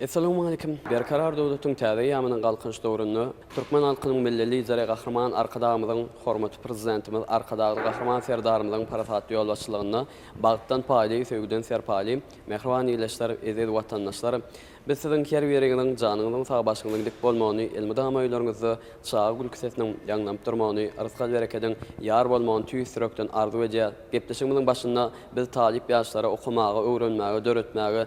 Essalamualeýkum! Berkarar döwletiň täze eýýamynyň Galkynyş döwründe türkmen halkynyň Milli Lideri Gahryman Arkadagymyzyň, hormatly Prezidentimiz Arkadagly Gahryman Serdarymyzyň parasatly ýolbaşçylygynda bagtdan paýly, söýgüden serpaýly, mähriban ildeşler, eziz watandaşlar! Biz siziň her biriňiziň janyňyzyň sag, başyňyzyň dik bolmagyny, elmydama öýleriňizde çaga gülki sesiniň ýaňlanyp durmagyny, rysgal-berekediň ýar bolmagyny tüýs ýürekden arzuw edýäris. Gepleşigimiziň başynda biz talyp ýaşlara okamaga, öwrenmäge, döretmäge,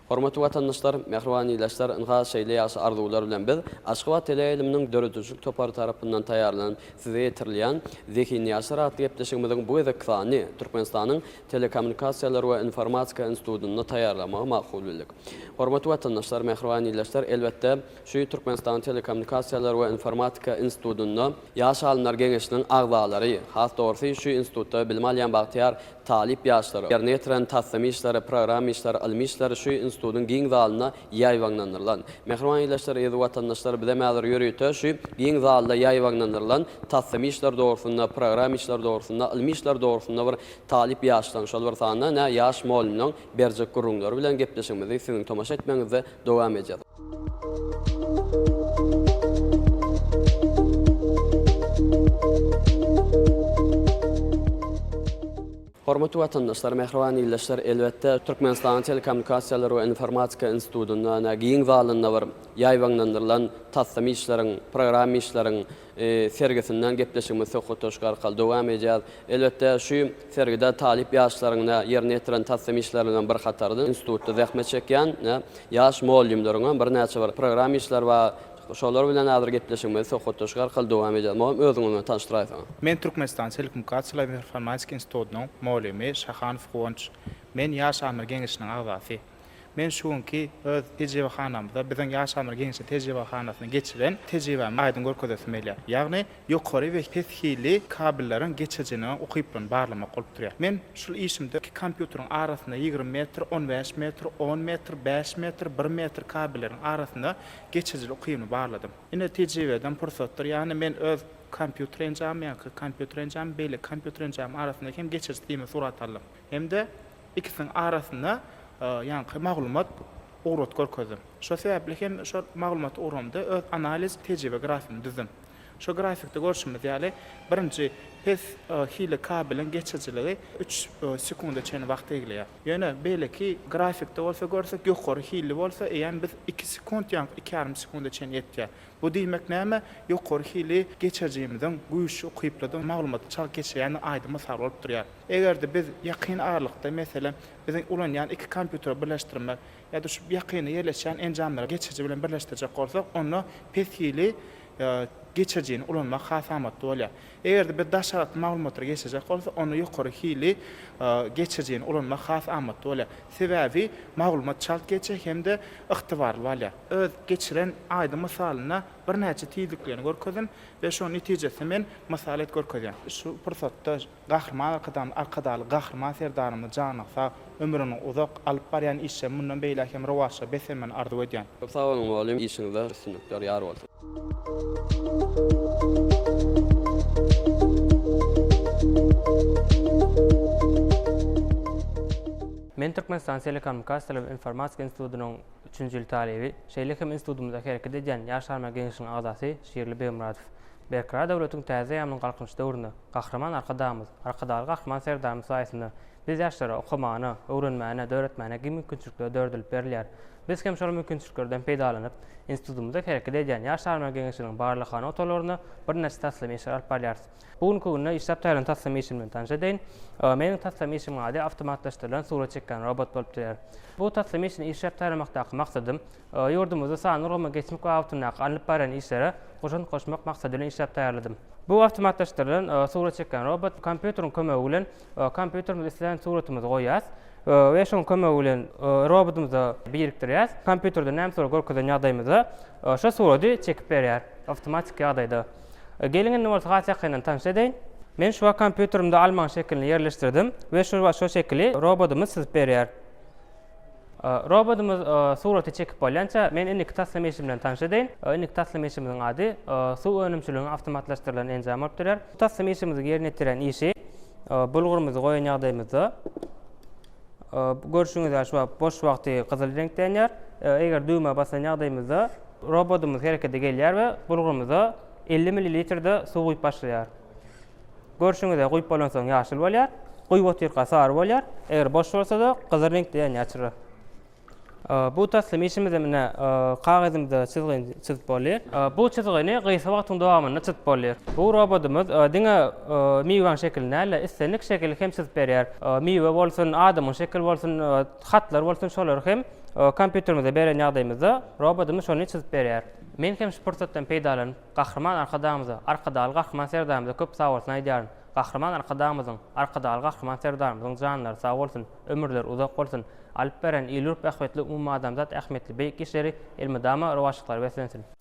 Hormatly watandaşlar, mähriban ildeşler, ynha, şeýle ýagşy arzuwlar bilen biz, Aşgabat teleýaýlymynyň döredijilik topary tarapyndan taýýarlanyp size ýetirilýän Zehinýaşlar atly gepleşigimiziň bu gezekki sanyny Türkmenistanyň Telekommunikasiýalar we informatika institutynda taýýarlamagy makul bildik. Hormatly watandaşlar, mähriban ildeşler, elbetde, şu Türkmenistanyň Telekommunikasiýalar we informatika institutynda, Ýaş alymlar geňeşiniň agzalary, has dogrusy, şu institutda bilim alýan bagtyýar Talyp ýaşlara ýerine ýetiren taslama işleri, programma işleri, ylmy işleri şu institutyň giň zalynda ýaýbaňlandyrylan. Mähriban ildeşler, eziz watandaşlar, bizem häzir ýörite şu giň zalda ýaýbaňlandyrylan taslama işleri dogrusynda, programma işleri dogrusynda, ylmy işleri dogrusynda bir talyp ýaşlaň, şol bir sanda ine ýaş molymlaň berjek gürrüňleri bilen gepleşigimizi siziň tomaşa etmegiňizde dowam edýär. Hormatly watandaşlar, mähriban ildeşler, elbetde, Türkmenistanyň Telekommunikasiýalar we informatika institutynda ene giň zalynda bir ýaýbaňlandyrylan taslam işleriň, programma işleriň, sergisinden gepleşigimizi söhbetdeşlik arkaly dowam edýäris. Elbetde, şu sergide talyp ýaşlaryň ýerine ýetiren tassym işleriniňem bir hatarydyr. Institutda zähmet çekýän ýaş mugallymlaryňam birnäçe bir program işleri bar. Şolar bilen häzir gepleşigimizi söhbetdeşlik arkaly dowam edýäris. Mugallym, özüňi bilen tanyşdyraýsaň. Men Türkmenistan Telekommunikasiýalar we informatika institutynyň mugallymy Şahanow Guwanç. Men Ýaş alymlar geňeşiniň agzasy. Men şu günki öz tejribehanamda biziň ýaşamyr geňeşli tejribehanasyny geçiren tejribämi aýdyň görkezesim gelýär. Ýagny ýokary we pes hilli kabelleriň geçirijiniň ukyplygyny barlamak bolup durýar. Men şul işimde iki kompýuteriň arasynda ýigrimi metr, on bäş metr, on metr, bäş metr, bir metr kabelleriň arasynda geçirijili ukybyny barladym. Ine tejribeden pursatdyr. Ýagny men öz kompýuter enjamym, ýaňky kompýuter enjamym, beýleki kompýuter enjamym arasyndaky hem geçiriji simini surata aldym. Hem-de Ikisiniň arasynda ýaňky maglumat ugrat görkezdim. Şo sebäpli hem şo maglumat ugramda öz analiz tejribe grafymy düzdüm. Şo grafikde görşümiz ýaly, birinji pes hili kabeliň geçirijiligi üç sekunda çenli wagt egleýär. Ýöne beýleki grafikde bolsa görsek, ýokary hilli bolsa eýýäm biz iki sekund ýaňky iki ýarym sekunda çenli ýetýär. Bu diýmek näme? Ýokary hili geçirijimiziň güýçli, ukyplydygy, maglumaty çalt geçirýändigi aýdyň mysal bolup durýar. Eger-de biz ýakyn aralykda, meselem, biziň ulanýan iki kompýutere birleşdirmek ýa-da şu ýakynda ýerleşýän enjamlary geçiriji bilen birleşdirjek bolsak, onda pes hili geçirijini ulanmak has amatly bolýar. Eger-de biz daş aralykda maglumatlary geçirjek bolsak, onda ýokary hili geçirijini ulanmak has amatly bolýar. Sebäbi maglumat çalt geçýär hem-de ygtybarly bolýar. Öz geçiren aýdyň mysalynda birnäçe tizliklerini görkezdim we şonuň netijesini men mysal et görkezýän. Şu pursatda Gahryman Arkadagymyz, Arkadagly Gahryman Serdarymyz janyň sag, ömrüň uzak, alyp barýan işleri mundan beýläk hem rowaçly beslenmegini arzuw edýän. Köp sag boluň mugallym işiňizde üstünlikler ýar bolsun. Men Türkmenistan Telekommunikasiýalar we informatika institutynyň Üçünji ýyl talyby, şeýle hem institutymyzda hereket edýän Ýaş alymlar geňeşiniň agzasy Şirli Begmyradow. Berkarar döwletiň täze ýamynyň Galkynyş döwründe Gahryman Arkadagymyz, Arkadagly Gahryman Serdarymyz saýasynda biz ýaşlara okamagyna, öwrenmäne, döretmäne giň mümkinçilikler döredilip berilýär. Biz hem şol mümkinçiliklerden peýdalanyp, institutymyzda hereket edýän Ýaş alymlar geňeşiniň barlaghana otaglarynda birnäçe taslama işleri alyp barýarys. Bu günki günde işläp taýýarlan taslama işim bilen tanyş edeýin. Meniň taslama işimiň ady awtomatlaşdyrylan surat çekýän robot bolup durýar. Bu taslama işini işläp taýýarlamakdaky maksadym, ýurdumyzda sanly ulgama geçmek babatyndaky alnyp barýan işlere goşant goşmak maksady bilen işläp taýýarladym. Bu awtomatlaşdyrylan surat çekýän robot kompýuteriň kömegi bilen kompýuterimize islän suratymyzy goýýas we şoň kömegi bilen robotymyza birikdirýäs. Kompýuterde näme surat görkezen ýagdaýymyzda şo surady çekip berýär awtomatik ýagdaýda. Geliň indi bolsa has ýakyndan tanyş edeýin. Men şu wagt kompýuterimde almaň şekilini ýerleşdirdim we şu wagt şo şekili robodymyz çyzyp berýär. Robodymyz suraty çekip bolýança, men indiki taslama işi bilen tanyş edeýin. Indiki taslama işimiziň ady Suw önümçiligiň awtomatlaşdyrylan enjamy bolup durýar. Bu taslama işimiziň ýerine ýetirýän işi bulgurymyzy goýan ýagdaýymyzda görşüňiz ýaly şu wagt boş wagty gyzyl reňkde ýanýar. Eger düwmä basan ýagdaýymyzda Robotumyz herekete gelýär we bulgurymyza elli millilitrde suw guýup başlaýar. Görşüňizde guýup bolansoň ýaşyl bolýar, guýup otyrka sary bolýar, eger boş bolsada gyzyl reňkde ýanýar çyra. Bu taslym işimize mine kagyzymyza çyzgyny çyzyp boldy. Bu çyzgyny gysga wagtyň dowamynda çyzyp boldy. Bu robotumyz diňe miwäň şekilini däl-de islendik şekili hem çyzyp berýär. Miwe bolsun, adamyň şekili bolsun. Hatlar bolsun şolary hem kompýuterimize beren ýagdaýymyzda robodymyz şony çyzyp berýär. Men hem şu pursatdan peýdalanyp Gahryman Arkadagymyza, Arkadagly Gahryman Serdarymyza köp sagbolsun aýdýaryn. Gahryman Arkadagymyzyň, Arkadagly Gahryman Serdarymyzyň janlary sag bolsun, ömürleri uzak bolsun, alyp beren il-ýurt bähbitli umumadamzat ähmiýetli beýik işleri elmydama rowaçlyklara beslensin!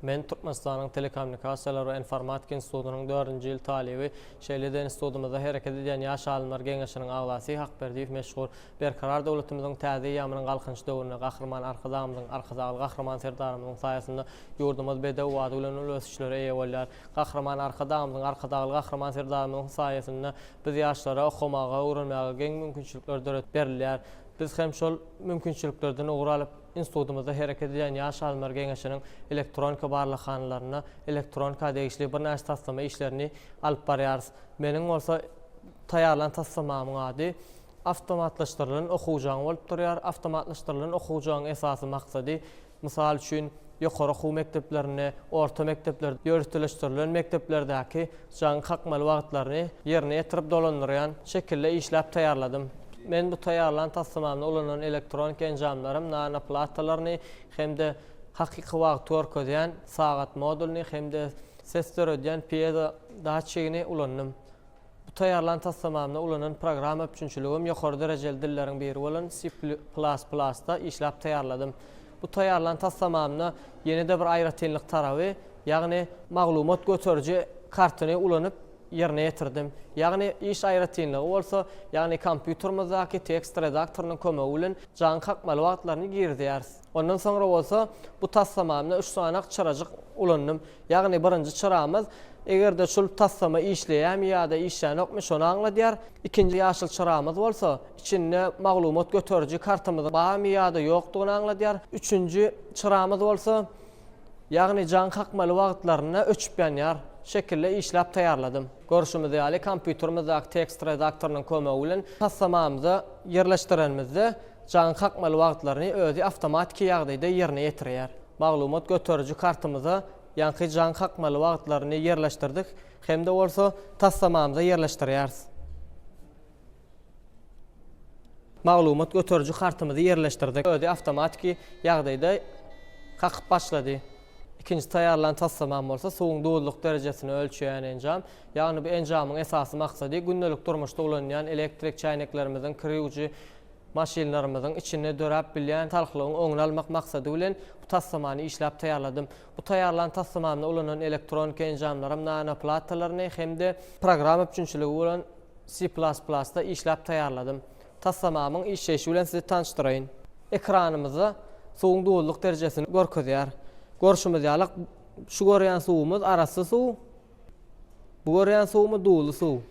Men Türkmenistanyň Telekommunikasiýalar we informatika institutynyň dördünji ýyl talyby, şeýle-de institutymyzda hereket edýän Ýaş alymlar geňeşiniň agzasy Hakberdiýew Meşhur. Berkarar döwletimiziň täze eýýamynyň Galkynyş döwründe Gahryman Arkadagymyzyň, Arkadagly Gahryman Serdarymyzyň saýasynda ýurdumyz bedew bady bilen uly ösüşlere eýe bolýar. Gahryman Arkadagymyzyň, Arkadagly Gahryman Serdarymyzyň saýasynda biz ýaşlara okamaga, öwrenmäge geň mümkinçilikler döredip berilýär. Biz hem şol mümkinçiliklerden ugur alyp, Institutymyzda hereket edýän Ýaş alymlar geňeşiniň elektronika barlaghanalarynda elektronika degişli birnäçe taslama işlerini alyp barýarys. Meniň bolsa taýýarlan taslamamyň ady Awtomatlaşdyrylan okuw jaňy bolup durýar. Awtomatlaşdyrylan okuw jaňyň esasy maksady, mysal üçin, ýokary okuw mekdeplerinde, orta mekdeplerde, ýöriteleşdirilen mekdeplerdäki Jaň kakmaly wagtlaryny ýerine ýetirip dolandyrýan şekilde işläp taýýarladym. Men bu taýýarlan taslamamda ulanan elektronik enjamlarym nano platalaryny hem-de hakyky wagty görkezýän sagat modulyny hem-de ses döredýän piezo datçigini ulandym. Bu taýýarlan taslamamda ulanan programma üpjünçiligim ýokary derejeli dilleriň biri bolan C++ da işläp taýýarladym. Bu taýýarlan taslamamda ýene-de bir aýratynlyk taraby, ýagny maglumat göteriji kartyny ulanyp ýerine ýetirdim, ýagny iş aýratynlygy bolsa, ýagny kompýuterymyzdaky tekst redaktorynyň kömegi bilen jaň kakmaly wagtlaryny girizýäris. Ondan soňra bolsa bu taslamamda üç sanak çyrajyk ulandym, ýagny birinji çyramyz eger-de şul taslama işleýärmi ýa-da işlänokmy şony aňladýar, ikinji ýaşyl çyramyz bolsa içinde maglumat göteriji kartymyzyň barmy ýa-da ýokdugyny aňladýar, üçünji çyramyz bolsa, Ýagny jaň kakmaly wagtlarynda öçüp ýanýar şekilde işläp taýýarladym. Görşümiz ýaly, kompýuterimizdäki tekst redaktorynyň kömegi bilen taslamamyza ýerleşdirenimizde, jaň kakmaly wagtlaryny özi awtomatiki ýagdaýda ýerine ýetirýär. Maglumat göteriji kartymyza ýaňky jaň kakmaly wagtlaryny ýerleşdirdik hem-de bolsa taslamamyza ýerleşdirýäris. Maglumat göteriji kartymyzy ýerleşdirdik. Özi awtomatiki ýagdaýda kakyp başlady. Ikinji taýýarlan taslamam bolsa suwuň duzluk derejesini ölçeýän enjam. Ýagny bu enjamyň esasy maksady gündelik durmuşda ulanýan elektrik çäýneklerimiziň, kir ýuwujy maşynlarymyzyň içinde döräp bilýän salkylygyň öňüni almak maksady bilen bu taslamany işläp taýýarladym. Bu taýýarlan taslamamda ulanylan elektronika enjamlaram nanoplatalarny hem-de programma üpjünçiligi bolan Si plas plasda işläp taýýarladym. Taslamamyň işleýşi bilen sizi tanyşdyraýyn. Ekranymyzda suwuň duzlyk derejesini görkezýär. Görşümiz ýaly, şu görýän suwumyz arassa suw, bu görýän suwumyz duzly suw.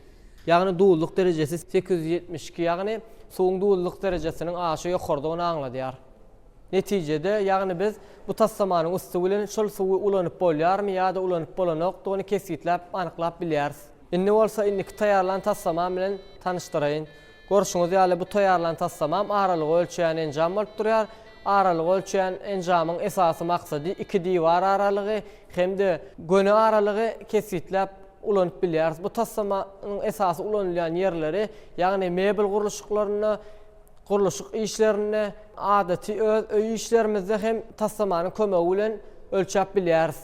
Ýagny duzlyk derejesi sekiz ýüz ýetmiş iki, ýagny suwuň duzlyk derejesiniň aşa ýokarydygyny aňladýar. Netijede, ýagny biz bu taslamanyň üsti bilen şol suwy ulanyp bolýarmy ýa-da ulanyp bolanokdygyny kesgitläp, anyklap bilýäris. Indi bolsa indiki taýýarlan taslamam bilen tanyşdyraýyn. Görşüňiz ýaly, bu taýýarlan taslamam aralygy ölçeýän enjam bolup durýar. Aralygy ölçeýän enjamyň esasy maksady iki diwar aralygy hem-de göni aralygy kesgitläp ulanyp bilýäris. Bu taslamanyň esasy ulanylýan ýerleri, ýagny mebel gurluşyklarynda, Gurluşyk işlerinde, adaty öz öý işlerimizde hem taslamanyň kömegi bilen ölçäp bilýäris.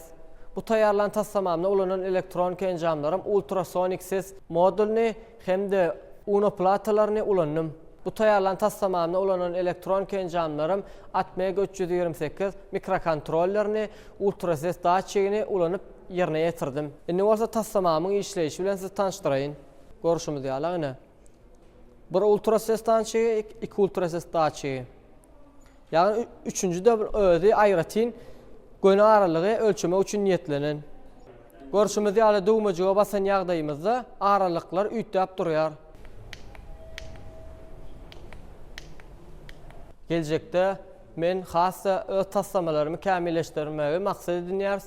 Bu taýýarlan taslamamda ulanan elektronika enjamlarym ultrasonik ses modulyny hem-de UNO platalaryny ulandym. Bu taýýarlan taslamamda ulanan elektronika enjamlarym Atmega üç ýüz ýigrimi sekiz mikrokontrollerini, ultrases datçigini ulanyp ýerine ýetirdim. Indi bolsa taslamamyň işleýşi bilen sizi tanyşdyraýyn. Görşümiz ýaly, ine. Bir ultrases datçigi, iki ultrases datçigi. Ýagny üçünjide bir özi aýratyn göni aralygy ölçemek üçin niýetlenen. Görşümiz ýaly düwmejige basan ýagdaýymyzda aralyklar üýtgäp durýar. Geljekde men has-da öz taslamalarymy kämilleşdirmegi maksat edinýäris.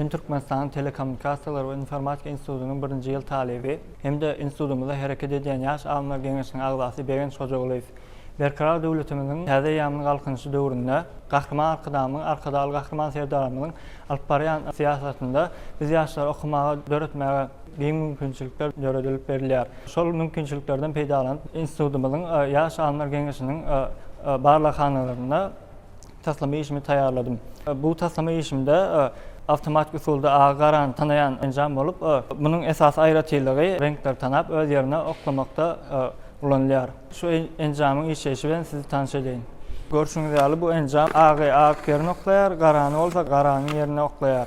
Men Türkmenistanyň Telekommunikasiýalar we informatika institutynyň birinji ýyl talyby hem-de institutymyzda hereket edýän Ýaş alymlar geňeşiniň agzasy Begenç Hojagulyýew. Berkarar döwletimiziň täze eýýamynyň Galkynyşy döwründe Gahryman Arkadagymyzyň, Arkadagly Gahryman Serdarymyzyň alyp barýan syýasatynda biz ýaşlara okamaga, döretmäge giň mümkinçilikler döredilip berilýär. Şol mümkinçiliklerden peýdalanyp, institutymyzyň Ýaş alymlar geňeşiniň barlaghanalarynda Taslama işimi taýýarladym. Bu taslama işimde awtomatik usulda agy garany tanaýan enjam bolup, munuň esasy aýratynlygy reňkleri tanap öz ýerine oklamakda ulanylýar. Şu enjamyň işleýşi bilen sizi tanyş edeýin. Görşüňiz ýaly bu enjam agy agyk ýerine oklaýar, garany bolsa garanyň ýerine oklaýar.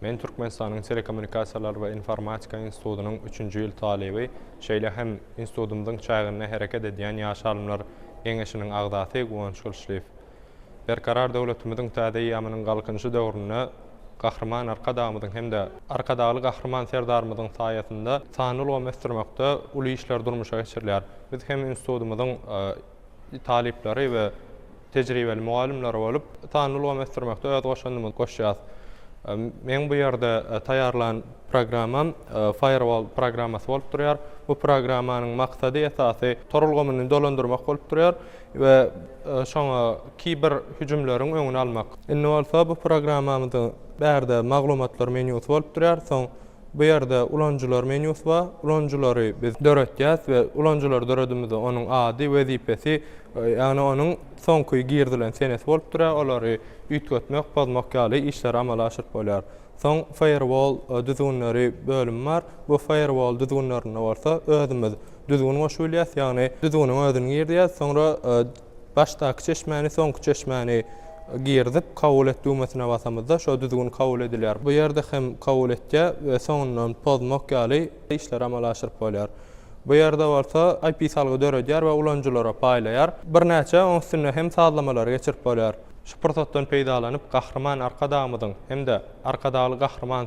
Men Türkmenistanyň Telekommunikasiýalar we informatika institutynyň üçünji ýyl talyby, şeýle hem institutymyzyň çäginde hereket edýän Ýaş alymlar geňeşiniň agzasy Guwanç Gylyçlyýew. Berkarar döwletimiziň täze eýýamynyň Galkynyşy döwründe Gahryman Arkadagymyzyň hem-de Arkadagly Gahryman Serdarymyzyň saýasynda sanly ulgamy ösdürmekde uly işler durmuşa geçirilýär. Biz hem institutymyzyň talyplary we tejribeli mugallymlary bolup, sanly ulgamy ösdürmekde öz goşandymyzy goşýarys. Meň bu ýerde taýýarlan programmam Firewall programmasy bolup durýar. Bu programmanyň maksady esasy tor ulgamyny dolandyrmak bolup durýar we şoňa kiber hüjümleriň öňüni almak. Indi bolsa bu programmamyzyň bärde maglumatlar menýusy bolup durýar, soň Bu ýerde ulanyjylar menýusy bar. Ulanyjylary biz döretýäs we ulanyjylary döredimizde onuň ady, wezipesi, ýagny onuň soňky girizilen senesi bolup durýar. Olary üýtgetmek, pozmak ýaly işleri amala aşyryp bolýar. Soň Firewall düzgünleri bölümi bar. Bu Firewall düzgünlerinde bolsa özümiz düzgün goşup bilýäs, ýagny düzgüniň özüni girizýäs, soňra, Başdaky çeşmäni, soňky çeşmäni girizip, kabul et düwmesine basamyzda, şo düzgün kabul edilýär. Bu ýerde hem kabul etýär we soňundan pozmak ýaly işleri amala aşyryp bolýar. Bu ýerde bolsa IP salgy döredýär we ulanyjylara paýlaýar. Birnäçe oň üstünde hem sazlamalary geçirip bolýar. Şu pursatdan peýdalanyp, Gahryman Arkadagymyzyň hem-de Arkadagly Gahryman!